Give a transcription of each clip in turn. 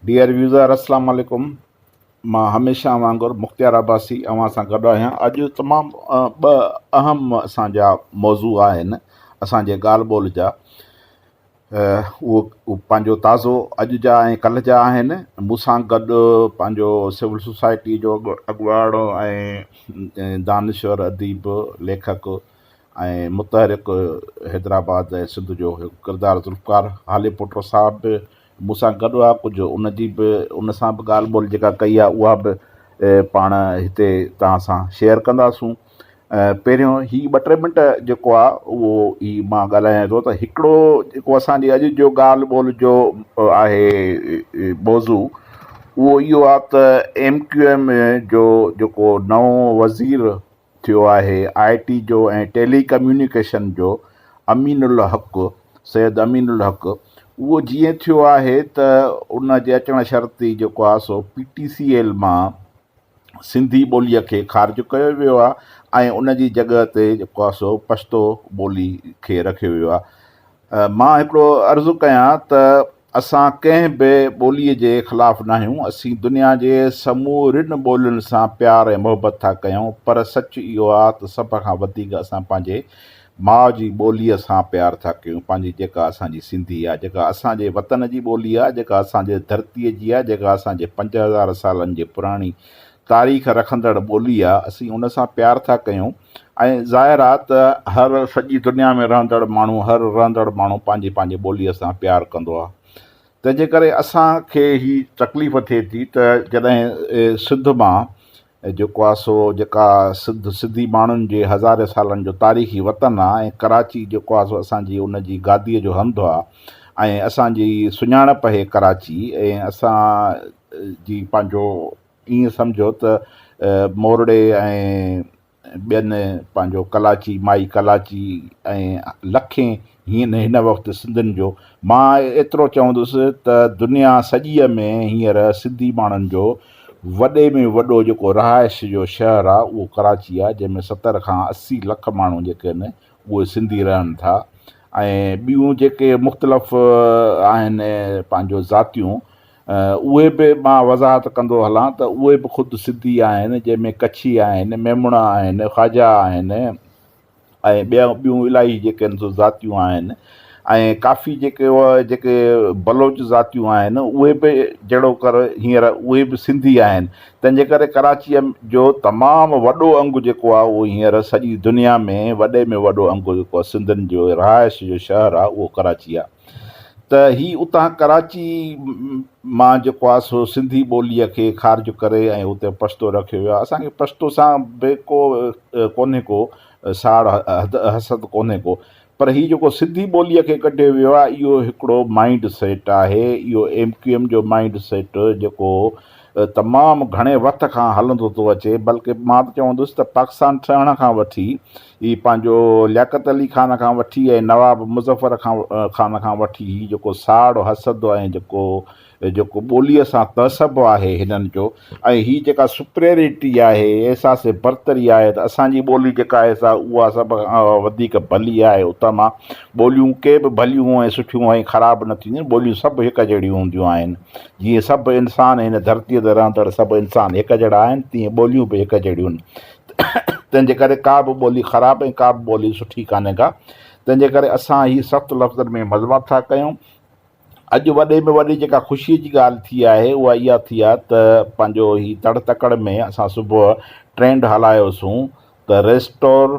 Dear User السلام عليڪم مان هميشه وانگر مختيار عباسي اوهان سان گڏ آهيان اڄ تمام ٻه اهم اسان جا موضوع آهن اسان جي ڳالهه ٻولهه جا اهو پنهنجو تازو اڄ جا ۽ ڪلهه جا آهن مون سان گڏ پنهنجو سول سوسائٽي جو اڳواڻ ۽ دانشور اديب ليکڪ ۽ متحرڪ حيدرآباد ۽ سنڌ جو هڪ ڪردار ذوالفقار هالي پوٽو صاحب به مون سان گڏ آ ڪجهه ان جي به ان سان به ڳالهه ٻولهه جيڪا ڪئي آ اها به پاڻ هتي توهان سان شيئر ڪنداسون پهريون هي ٻه ٽي منٽ جيڪو آ اهو هي مان ڳالهايان ٿو ته هڪڙو جيڪو اسان جي اڄ جو ڳالهه ٻولهه جو آهي موضوع اهو اهو آ ته ايم ڪيو ايم جو جيڪو نئون وزير ٿيو آهي، آء ٽي جو ۽ ٽيلي ڪميونيڪيشن جو امين الحق سيد امين الحق اهو جيئن ٿيو آهي ته ان جي اچڻ شرطي جيڪو آهي سو پي ٽي سي ايل مان سنڌي ٻولي کي خارج ڪيو ويو آهي ۽ ان جي جڳهه تي جيڪو آهي سو پشتو ٻولي کي رکيو ويو آهي مان هڪڙو عرض ڪيان ته اسان ڪنهن به ٻولي جي خلاف ناهيون، اسين دنيا جي سمورين ٻولين سان پيار ۽ محبت ٿا ڪيون پر سچ اهو آ ته سڀ کان وڌيڪ اسان پنهنجي ماء جي ٻوليء سان پيار ٿا ڪيون پنهنجي جيڪا اسان جي سنڌي آ جيڪا اسان جي وطن جي ٻولي آ جيڪا اسان جي ڌرتي جي آ جيڪا اسان جي پنج هزار سالن جي پراڻي تاريخ رکندڙ ٻولي آ اسين ان سان پيار ٿا ڪيون ۽ ظاهر آ ته هر سڄي دنيا ۾ رهندڙ ماڻهو هر رهندڙ ماڻهو پنهنجي پنهنجي ٻولي سان پيار ڪندو آ تنهن جي ڪري اسان کي هي تڪليف ٿئي ٿي ته جڏهن سنڌ مان جيڪو آ سو جيڪا سنڌ سنڌي ماڻهن جي هزارين سالن جو تاريخي وطن آ ۽ ڪراچي جيڪو آ سو اسان جي ان جي گادي جو هنڌ آ ۽ اسان جي سڃاڻپ هي ڪراچي ۽ اسان جي پنهنجو ائين سمجهو ته مورڙي ۽ ٻين پنهنجو ڪلاچي، مائي ڪلاچي ۽ لکين هين هن وقت سنڌين جو. مان ايترو چوندس ته دنيا سڄيء ۾ هينئر سنڌي ماڻهن جو وڏي ۾ وڏو جيڪو رهائش جو شهر آ اهو ڪراچي آ جنهن ۾ ستر کان اسي لک ماڻهو جيڪي آهن اهي سنڌي رهن ٿا ۽ ٻيون جيڪي مختلف آهن پنهنجو ذاتيون اهي به مان وضاحت ڪندو هلان ته اهي به خود سنڌي آهن، جنهن ۾ ڪڇي آهن، ميمڻا آهن، خواجا آهن ۽ ٻيون ٻيون الائي جيڪن سو ذاتيون آهن ۽ ڪافي جيڪي اهي جيڪي بلوچ ذاتيون آهن اهي به جهڙوڪر هينئر اهي به سنڌي آهن تنهن جي ڪري ڪراچيء جو تمام وڏو انگ جيڪو آهي اهو هينئر سڄي دنيا ۾ وڏي ۾ وڏو انگ جيڪو آهي سنڌين جو رهائش جو شهر آهي اهو ڪراچي آهي. ته هي اتان ڪراچي مان جيڪو آهي سو سنڌي ٻوليء کي خارج ڪري ۽ اتي پشتو رکيو ويو آهي. اسان کي پشتو سان به ڪو ڪونهي ڪو ساڙ حسد ڪونهي ڪو پر هي جيڪو سنڌي ٻوليء کي ڪڍيو ويو آهي اهو هڪڙو مائينڊ سيٽ آهي اهو ايم ڪيو ايم جو مائينڊ سيٽ جيڪو تمام گهڻي وقت کان هلندو ٿو اچي بلڪه مان ته چوندس ته پاڪستان ٺهڻ کان وٺي هي پنهنجو لياقت علي خان کان وٺي ۽ نواب مظفر خان کان وٺي هي جيڪو ساڙ حسد ۽ جيڪو جيڪو ٻوليء سان تعصب آهي هنن جو ۽ هي جيڪا سپريئرٽي آهي احساس برتري آهي ته اسان جي ٻولي جيڪا آهي سا اها سڀ کان وڌيڪ ڀلي آهي اتان مان ٻوليون ڪي به ڀليون ۽ سٺيون ۽ خراب نه ٿينديون ٻوليون سڀ هڪ جهڙيون هونديون آهن جيئن سڀ انسان هن ڌرتيء تي رهندڙ سڀ انسان هڪ جهڙا آهن تيئن ٻوليون به هڪ جهڙيون تنهن جي ڪري ڪا به ٻولي خراب ۽ ڪا به ٻولي سٺي ڪانهي ڪا. تنهن جي ڪري اسان هي سخت لفظن ۾ مذمت ٿا ڪيون. اڄ وڏي ۾ وڏي جيڪا خوشيء جي ڳالهه ٿي آهي اها اها ٿي آهي ته پنهنجو هي تڙ تڪڙ ۾ اسان صبح ٽرينڊ هلايوسون ته ريسٽور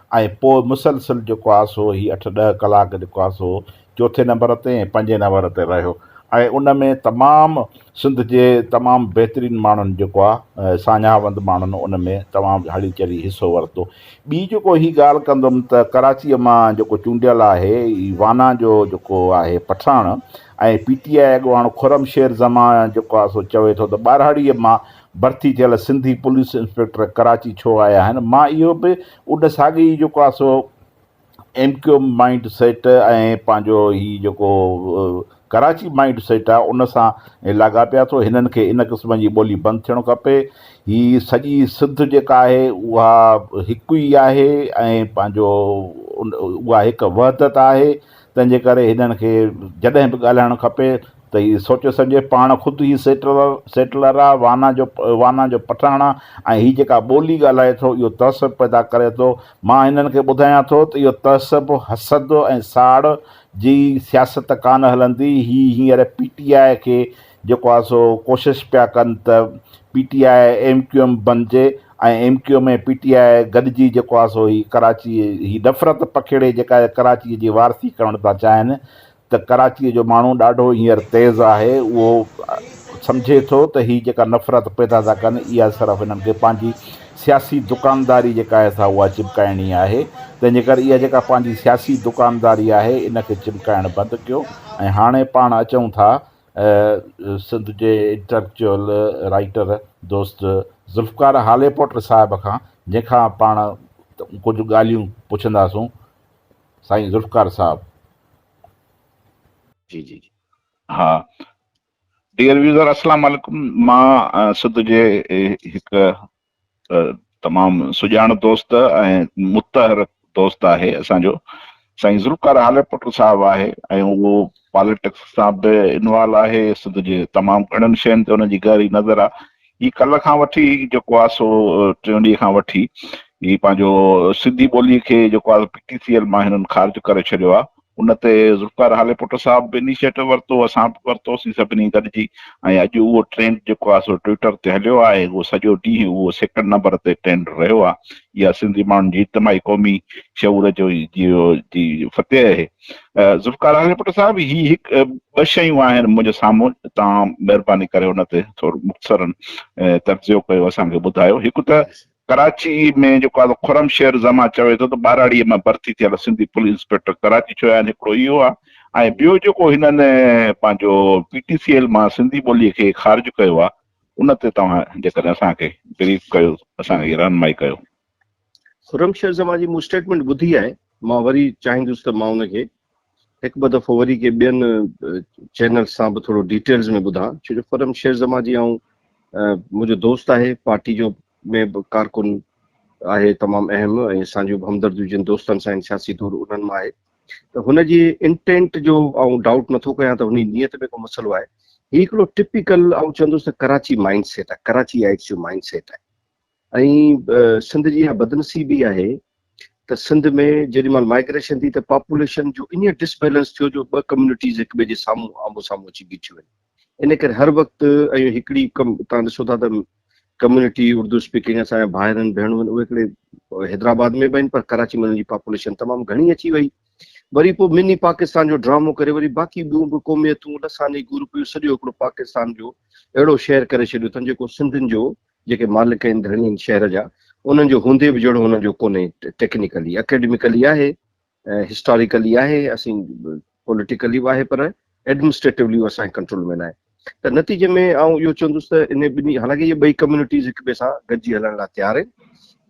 ۽ پوء مسلسل جيڪو آس هو هي اٺ ڏهه ڪلاڪ جيڪو آس هو چوٿين نمبر تي ۽ پنجين نمبر تي رهيو ۽ ان ۾ تمام سنڌ جي تمام بهترين ماڻهن جيڪو آ ساڃاهوند ماڻهن ان ۾ تمام هلي چلي حصو ورتو ٻي جيڪو هي ڳالهه ڪندم ته ڪراچيء مان جيڪو چونڊيل آهي هي وانا جو جيڪو آهي پٺاڻ ۽ پي ٽي آء اڳواڻ خرم شير زمان جيڪو آ سو چوي ٿو ته ٻاراڙيء مان ڀرتي ٿيل سنڌي پوليس انسپيڪٽر ڪراچي ڇو آيا آهن؟ مان اهو به اڏ ساڳي ئي جيڪو آهي سو M Q M mind set ۽ پنهنجو هي جيڪو ڪراچي مائينڊ سيٽ آهي ان سان لاڳاپيا ٿو هنن کي ان قسم جي ٻولي بند ٿيڻ کپي هي سڄي سنڌ جيڪا آهي اها هڪ ئي آهي ۽ پنهنجو اها هڪ وحدت آهي تنهن جي ڪري هنن کي جڏهن به ڳالهائڻ کپي ته هي سوچي سمجهي پاڻ خود ئي سيٽلر آ، وانا جو وانا جو پٺاڻ آ ۽ هي جيڪا ٻولي ڳالهائي ٿو اهو تعصب پيدا ڪري ٿو. مان هنن کي ٻڌايان ٿو ته اهو تعصب، حسد ۽ ساڙ جي سياست ڪانه هلندي. هي هينئر پي ٽي آء کي جيڪو آهي سو ڪوشش پيا ڪن ته P T I M Q M بنجي ۽ M Q M ۽ P T I گڏجي جيڪو آهي سو هي ڪراچي هي نفرت پکيڙي جيڪا هي ڪراچي جي وارثي ڪرڻ ٿا چاهين ته ڪراچي جو ماڻهو ڏاڍو هينئر تيز آهي اهو سمجهي ٿو ته هي جيڪا نفرت پيدا ٿا ڪن اها صرف هنن کي پنهنجي سياسي دڪانداري جيڪا آهي سا اها چمڪائڻي آهي تنهن جي ڪري اها جيڪا پنهنجي سياسي دڪانداري آهي ان کي چمڪائڻ بند ڪيو ۽ هاڻي پاڻ اچون ٿا سنڌ جي انٽليڪچوئل رائيٽر دوست ذوالفقار هاليپوٽر صاحب کان جنهن کان پاڻ ڪجهه ڳالهيون پڇنداسون سائين ذوالفقار صاحب. جي جي جي ها ڊيئر ويوزر اسلام عليڪم مان سنڌ جي هڪ ته تمام سڄاڻ دوست ۽ متحر دوست آهي اسان جو سائين ذوالفقار هالرپوٽو صاحب آهي ۽ اهو پاليٽڪس سان به انوالو آهي سنڌ جي تمام گهڻن شين تي ان جي گهري نظر آهي هي ڪلهه کان وٺي جيڪو آهي سو ٽيون ڏينهن کان وٺي هي پنهنجو سنڌي ٻولي کي جيڪو آهي پي ٽي سي ايل مان هنن خارج ڪري ڇڏيو آهي ان تي ذوالفقار هاليپوٽو صاحب به انيشيٽو ورتو، اسان به ورتوسين سڀني گڏجي ۽ اڄ اهو ٽرينڊ جيڪو آهي سو ٽوئيٽر تي هليو آهي، اهو سڄو ڏينهن اهو سيڪنڊ نمبر تي ٽرينڊ رهيو آهي. اها سنڌي ماڻهن جي اجتماعي قومي شعور جو جي فتح اهي. ذوالفقار هاليپوٽو صاحب هي هڪ ٻه شيون آهن منهنجي سامهون توهان مهرباني ڪري ان تي ٿورو مختصراً تجزيو ڪيو اسان کي ٻڌايو. هڪ ته ڪراچي ۾ جيڪو آزاد خرم شعر زمان چوي ٿو ته ٻهراڙيء مان ڀرتي ٿيل سنڌي پوليس انسپيڪٽر ڪراچي ڇو آهن هڪڙو اهو آهي ۽ ٻيو جيڪو هنن پنهنجو پي ٽي سي ايل مان سنڌي ٻولي کي خارج ڪيو آهي ان تي توهان جيڪڏهن اسان کي بريف ڪيو اسان کي رهنمائي ڪيو. خرم شعر زمان جي مون اسٽيٽمينٽ ٻڌي آهي مان وري چاهيندس ته مان ان کي هڪ ٻه دفعو وري ڪي ٻين چينلز سان به ٿورو ڊيٽيلز ۾ ٻڌان ڇو جو فرم شير زمان جي آئون منهنجو دوست آهي پارٽي جو ۾ به ڪارڪن آهي تمام اهم ۽ اسان جون به همدرديون جن دوستن سان آهن سياسي طور انهن مان آهي ته هن جي انٽينٽ جو آئون ڊائوٽ نٿو ڪيان ته هني نيت ۾ ڪو مسئلو آهي هي هڪڙو ٽپيڪل آئون چوندس ته ڪراچي مائنڊ سيٽ آهي ڪراچي آئيٽس جو مائنڊ سيٽ آهي ائين سنڌ جي اها بدنصيبي آهي ته سنڌ ۾ جيڏي مهل مائگريشن ٿي ته پاپوليشن جو ايئن ڊس بيلنس ٿيو جو ٻه ڪميونٽيز هڪ ٻئي جي سامهون آمهون سامهون اچي بيٺيون آهن ان ڪري هر وقت ائين هڪڙي تان ڏسو ٿا ته ڪميونٽي اردو اسپيڪنگ اسان جا ڀائر آهن ڀيڻون آهن اهي هڪڙي حيدرآباد ۾ به آهن پر ڪراچي ۾ انهن جي پاپوليشن تمام گهڻي اچي وئي وري پوء مني پاڪستان جو ڊرامو ڪري وري باقي ٻيون به قوميتون لساني گروپ سڄو هڪڙو پاڪستان جو اهڙو شهر ڪري ڇڏيو اٿن جيڪو سنڌين جو جيڪي مالڪ آهن ڌڻين شهر جا انهن جو هوندي به جهڙو انهن جو ڪونهي ٽيڪنيڪلي اڪيڊميڪلي آهي هسٽاريڪلي آهي اسين پوليٽيڪلي به آهي پر ايڊمنسٽريٽولي اهو اسان جي ڪنٽرول ۾ ناهي ته نتيجي ۾ آئون اهو چوندس ته ان ٻنهي حالانڪه اهي ٻئي ڪميونٽيز هڪ ٻئي سان گڏجي هلڻ لاء تيار آهن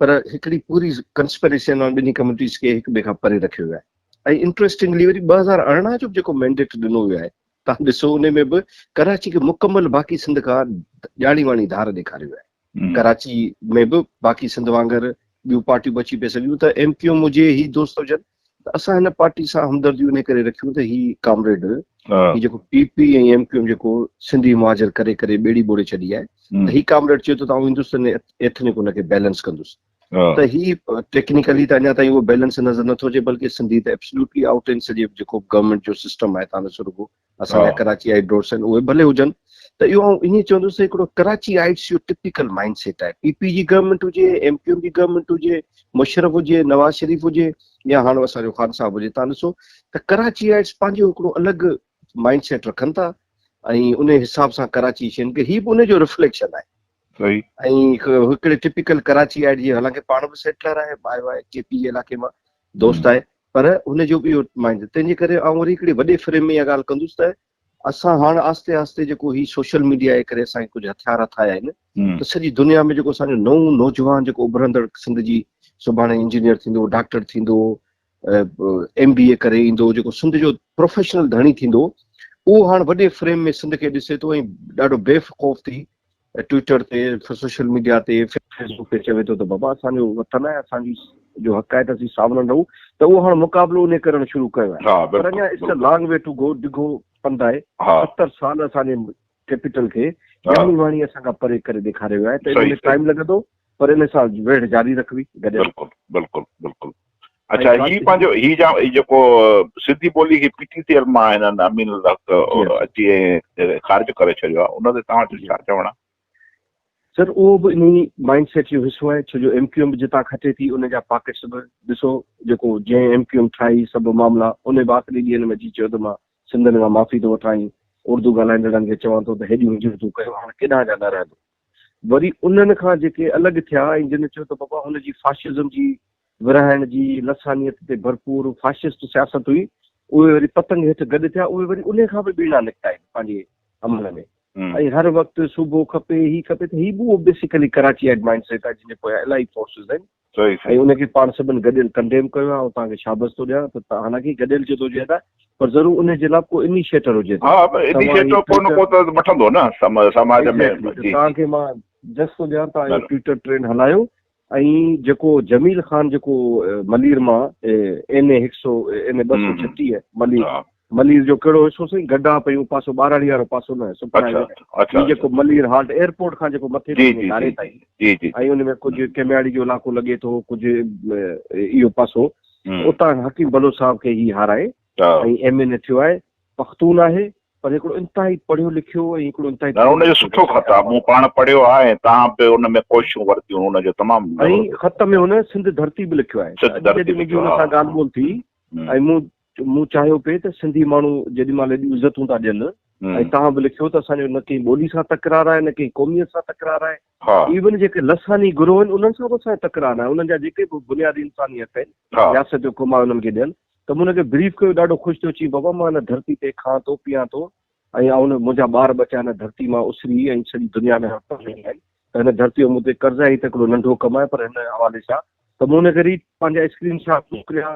پر هڪڙي پوري ڪنسپريسي انهن ٻنهي ڪميونٽيز کي هڪ ٻئي کان پري رکيو ويو آهي ۽ انٽريسٽنگلي وري ٻه هزار ارڙهن جو به جيڪو مينڊيٽ ڏنو ويو آهي تان ڏسو انهي ۾ به ڪراچي کي مڪمل باقي سنڌ کان ڄاڻي واڻي ڌار ڏيکاري ويو آهي ڪراچي ۾ به باقي سنڌ وانگر ٻيون پارٽيون به اچي پئي سگهيون ته ايم ڪيوم هجي هي دوست هجن ته اسان هن پارٽي سان همدرديون انهي ڪري رکيون ته هي ڪامريڊ هي جيڪو پي پي ۽ ايم ڪيوم جيڪو سنڌي مهاجر ڪري ڪري ٻيڙي ٻوڙي ڇڏي آهي ته هي ڪامريڊ چئي ٿو ته آئون هندستاني ايٿنڪ ان کي بيلنس ڪندس ته هي ٽيڪنيڪلي ته اڃا تائين اهو بيلنس نظر نٿو اچي بلڪه سنڌي ته ابسلوٽلي آئوٽ آهن سڄي جيڪو به گورنمينٽ جو سسٽم آهي تان ڏسو رڳو اسان جا ڪراچي آئي ڊورس آهن اهي ڀلي هجن ته اهو آئون ائين چوندس ته هڪڙو ڪراچي آئيٽس جو ٽپيڪل مائنڊ سيٽ آهي پي پي جي گورنمينٽ هجي ايم ڪيو ايم جي گورنمينٽ هجي مشرف هجي نواز شريف هجي يا هاڻ اسان جو خان صاحب هجي تان ڏسو ته ڪراچي آئيٽس پنهنجو هڪڙو الڳ مائنڊ سيٽ رکن ٿا ۽ ان حساب سان ڪراچي شين کي هي به ان جو رفليڪشن آهي صحيح. ۽ هڪڙي ٽپيڪل ڪراچي آئي جي حالانڪه پاڻ به سيٽلر آهي آيو آهي ڪي پي جي علائقي مان دوست آهي پر هن جو به اهو مائنڊ تنهن جي ڪري آئون وري هڪڙي وڏي فريم ۾ اها ڳالهه ڪندس ته اسان هاڻ آهستي آهستي جيڪو هي سوشل ميڊيا جي ڪري اسان کي ڪجهه هٿيار هٿ آيا آهن ته سڄي دنيا ۾ جيڪو اسان جو نئون نوجوان جيڪو اڀرندڙ سنڌ جي سڀاڻي انجنيئر ٿيندو ڊاڪٽر ٿيندو ايم بي اي ڪري ايندو جيڪو سنڌ جو پروفيشنل ڌڻي ٿيندو اهو هاڻ وڏي فريم ۾ سنڌ کي ڏسي ٿو ۽ ڏاڍو بي خوف ٿي ٽوئيٽر تي سوشل ميڊيا تي فيس بڪ تي چوي ٿو ته بابا اسان جو وطن آهي اسان جي جو حق آهي ته اسين ساولن رهون ته اهو هاڻ مقابلو انهي ڪرڻ شروع ڪيو آهي پر اڃا it's a long way to go ڊگهو پنڌ آهي ستر سال اسان جي ڪيپيٽل کي يامي واڻي اسان کان پري ڪري ڏيکاري ويو آهي ته ان ۾ ٽائيم لڳندو پر ان سان ويڙهه جاري رکبي گڏيل بلڪل بلڪل بلڪل اچا هي پنهنجو هي جا جيڪو سنڌي ٻولي کي پي ٽي سي ايل مان هنن امين الحق اچي خارج ڪري ڇڏيو آهي ان تي توهان جو ڇا چوڻ آهي سر اهو به انهي مائنڊ سيٽ جو حصو آهي ڇو جو ايم ڪيو ايم جتان کٽي ٿي ان جا پاڪيٽس به ڏسو جيڪو جنهن ايم ڪيو ايم ٺاهي سڀ معاملا ان به آخري ڏينهن ۾ اچي چيو ته مان سنڌين کان معافي ٿو وٺان ۽ اردو ڳالهائيندڙن کي چوان ٿو ته هيڏيون هجرتون ڪيو هاڻ ڪيڏانهن جا نه رهندو وري انهن کان جيڪي الڳ ٿيا ۽ جن چيو ته بابا هن جي فاشزم جي ورهائڻ جي لسانيت تي ڀرپور فاشسٽ سياست هئي اهي وري پتنگ هيٺ گڏ ٿيا اهي وري انهي کان به ٻيڻا نڪتا آهن پنهنجي عمل ۾ ۽ هر وقت صوبو کپي هي کپي ته هي به اهو بيسيڪلي ڪراچي ايڊ مائنڊ سيٽ آهي جن جي پويان الاهي فورسز آهن. ۽ ان کي پاڻ سڀن گڏيل ڪنڊيم ڪيو آهي ۽ توهان کي شابس ٿو ڏيان ته حالانڪه گڏيل جٿو هجي ته پر ضرور انهي جي لاء به ڪو انيشيٽر هجي ته ها پر انيشيٽر ڪو نه ڪو ته وٺندو نه سماج ۾ ايگزيڪٽلي توهان کي مان جس ٿو ڏيان توهان اهو ٽوئيٽر ٽرينڊ هلايو ۽ جيڪو جميل خان جيڪو ملير مان اين اي هڪ سؤ اين اي ٻه سؤ ڇٽيهه ملير ملير جو ڪهڙو حصو سائين گڊا پئي اهو پاسو ٻاراڙي وارو پاسو نه سپرائي جو هي جيڪو ملير هالٽ ايئرپورٽ کان جيڪو مٿي تائين ڌاري تائين جي جي ۽ ان ۾ ڪجهه ڪمياڙي جو علائقو لڳي ٿو ڪجهه اهو پاسو اتان حڪيم بلوچ صاحب کي هي هارائي ۽ ايم اين اي ٿيو آهي پختون آهي پر هڪڙو انتهائي پڙهيو لکيو ۽ هڪڙو انتهائي نه ان جو سٺو خط آهي مون پاڻ پڙهيو آهي ۽ تان به ان ۾ ڪوششون ورتيون ان جو تمام ۽ خط ۾ هن سنڌ ڌرتي به لکيو آهي سنڌ ڌرتي به لکيو آهي ان سان ڳالهه ٻولهه ٿي ۽ مون مون چاهيو پئي ته سنڌي ماڻهو جيڏي مهل ايڏيون عزتون ٿا ڏين ۽ توهان به لکيو ته اسان جو نه ڪنهن ٻولي سان تڪرار آهي نه ڪنهن قوميت سان تڪرار آهي ايون جيڪي لساني گروهه آهن انهن سان به اسان جو تڪرار ناهي انهن جا جيڪي به بنيادي انساني حق آهن رياست جو ڪم آهي انهن کي ڏين ته مون هن کي بريف ڪيو ڏاڍو خوش ٿيو چيائين بابا مان هن ڌرتي تي کان ٿو پيئان ٿو ۽ آئون منهنجا ٻار ٻچا هن ڌرتي مان اسري ۽ سڄي دنيا ۾ هٿ هڻي آهن ته هن ڌرتيء جو مون تي قرض آهي هي ته هڪڙو ننڍو ڪم آهي پر هن حوالي سان ته مون هن کي ريڊ پنهنجا اسڪرين شاٽ موڪليا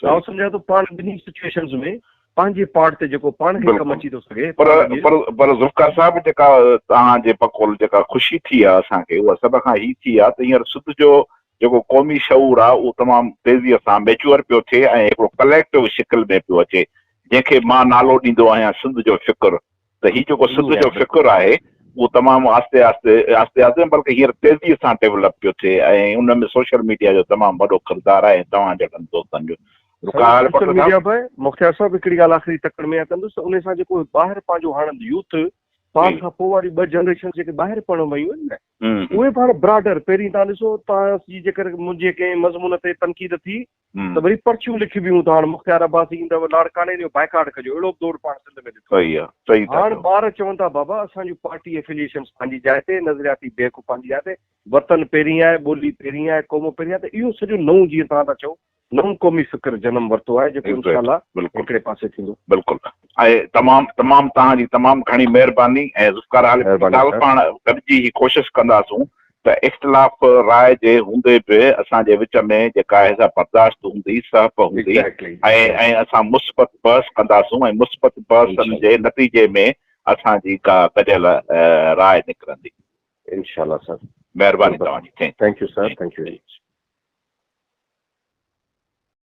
جو آئون سمجهان ٿو پاڻ ٻنهي سچوئيشنز ۾ پنهنجي پارٽ تي جيڪو پاڻ کي ڪم اچي ٿو سگهي پر پر پر ذوالفقار صاحب جيڪا توهان جي بقول جيڪا خوشي ٿي آهي اسان کي اها سڀ کان هي ٿي آهي ته هينئر سڌ جو جيڪو قومي شعور آهي اهو تمام تيزيء سان ميچوئر پيو ٿئي ۽ هڪڙو ڪليڪٽو شڪل ۾ پيو اچي جنهن کي مان نالو ڏيندو آهيان سنڌ جو فڪر ته هي جيڪو سڌ جو فڪر آهي اهو تمام آهستي آهستي آهستي آهستي بلڪه هينئر تيزي سان ڊيولپ پيو ٿئي ۽ ان ۾ سوشل ميڊيا جو تمام وڏو ڪردار آهي ۽ توهان جهڙن دوستن جو سوشل ميڊيا به مختيار صاحب هڪڙي ڳالهه آخري تڪڙ ۾ ڪندس ته ان سان جيڪو ٻاهر پنهنجو هاڻ يوٿ پاڻ کان پوء واري ٻه جنريشن جيڪي ٻاهر پڙهڻ ويون آهن نه اهي پاڻ براڊر پهرين تان ڏسو تان جي جيڪر منهنجي ڪنهن مضمون تي تنقيد ٿي ته وري پرچيون لکبيون ته هاڻ مختيار عباسي ايندو، لاڙڪاڻي جو بائيڪاٽ ڪجو، اهڙو به دور پاڻ سنڌ ۾ ڏٺو آهي. هاڻ ٻار چون ٿا بابا اسان جون پارٽي ائفليئيشنز پنهنجي جاء تي، نظرياتي بيهڪ پنهنجي جاء تي، وطن پهرين آهي، ٻولي پهرين آهي، قوم پهرين آهي ته اهو سڄو نئون جيئن توهان ٿا چئو نئون قومي فڪر جنم ورتو آهي جيڪو انشاء الله هڪڙي پاسي ٿيندو. بلڪل ۽ تمام تمام توهان جي تمام گهڻي مهرباني ۽ ذوالفقار عالم صاحب پاڻ گڏجي هي ڪوشش ڪنداسون ته اختلاف راء جي هوندي به اسان جي وچ ۾ جيڪا هيضا برداشت هوندي، سهپ هوندي ۽ اسان مثبت بحث ڪنداسون ۽ مثبت بحثن جي نتيجي ۾ اسان جي ڪا گڏيل راء نڪرندي. انشاء الله سر. مهرباني توهان جي. Thank you sir. Thank U.